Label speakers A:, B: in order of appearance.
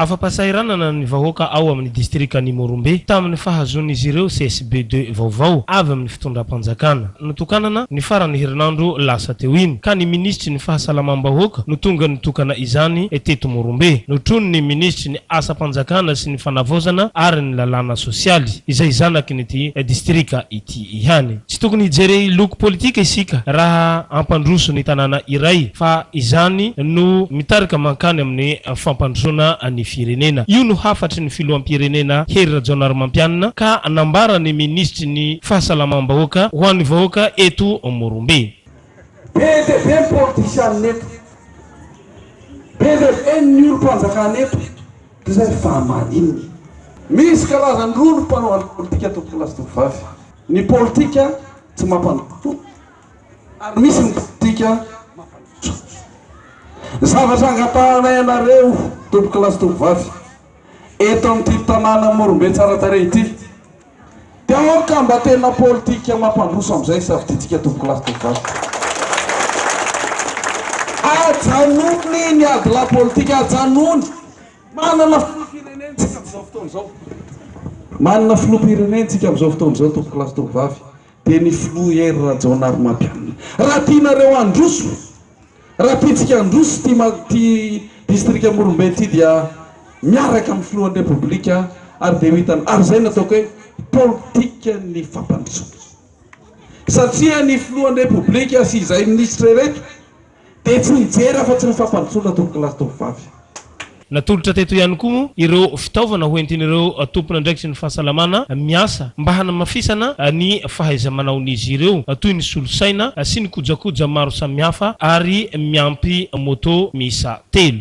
A: Afa-pahasahiranana ny vahoaka ao amin'ny distrikan'i Morombe tamin'ny fahazoan'izy ireo CSB deux vaovao avy amin'ny fitondram-panjakana. Notokanana ny faran'ny herinandro lasa teo iny, ka ny minisitry ny Fahasalamam-bahoaka no tonga nitokana izany teto Morombe. Notronin'ny minisitry ny Asam-panjakana sy ny Fanavaozana ary ny Lalàna sosialy, izay zanaky ny ity distrika ity. ity ihany. Tsy tokony hijery loko politika isika raha hampandroso ny tanàna iray fa izany no mitarika mankany amin'ny fampandrosoana ny firenena. Io no hafatry ny filoham-pirenena Hery Rajaonarimampianina ka nambaran'ny minisitry ny fahasalamam-bahoaka ho an'ny vahoaka eto Morombe. Be
B: dia be ny politisianina eto. Be dia be ny olom-panjakana eto. Izay fa maninona? Misy karazany roa ny mpanao ny politika tompokolahy sy tovovavy. Ny politika tsy mampandroso ary misy ny politika mampandroso. Ny zavatra angatahanay anareo tompokolahy sy tovovavy eto amin'ity tanàna Morombe tsara tarehy ity, Donc mba tena politika mampandroso amin'izay safidintsika tompoko lahy sy tovovavy. Ajanony ny ady lahy politika, ajanony. Manana filoham-pirenentsika amin'izao fotoana izao, manana filoham-pirenentsika amin'izao fotoana izao tompoko lahy sy tovovavy dia ny filoha Hery Rajaonarimampianina. Raha tianareo handroso. Raha tiantsika handroso ity distrika Morombe ity dia miaraka amin'ny filohan'ny Repoblika ary dia ho hitany ary izay no ataoko hoe politikan'ny fampandrosoana satria ny filohan'ny Repoblika sy izay minisitra ireto dia tsy mijery afa-tsy ny fampandrosoana tovolahy sy tovovavy. Natolotra
A: teto ihany koa moa ireo fitaovana hoentin'ireo tompon'andraikitry ny fahasalamana miasa mba hanamafisana ny fahaiza-manaon'izy ireo, toy ny solosaina sy ny kojakoja maro samihafa ary miampy moto miisa telo.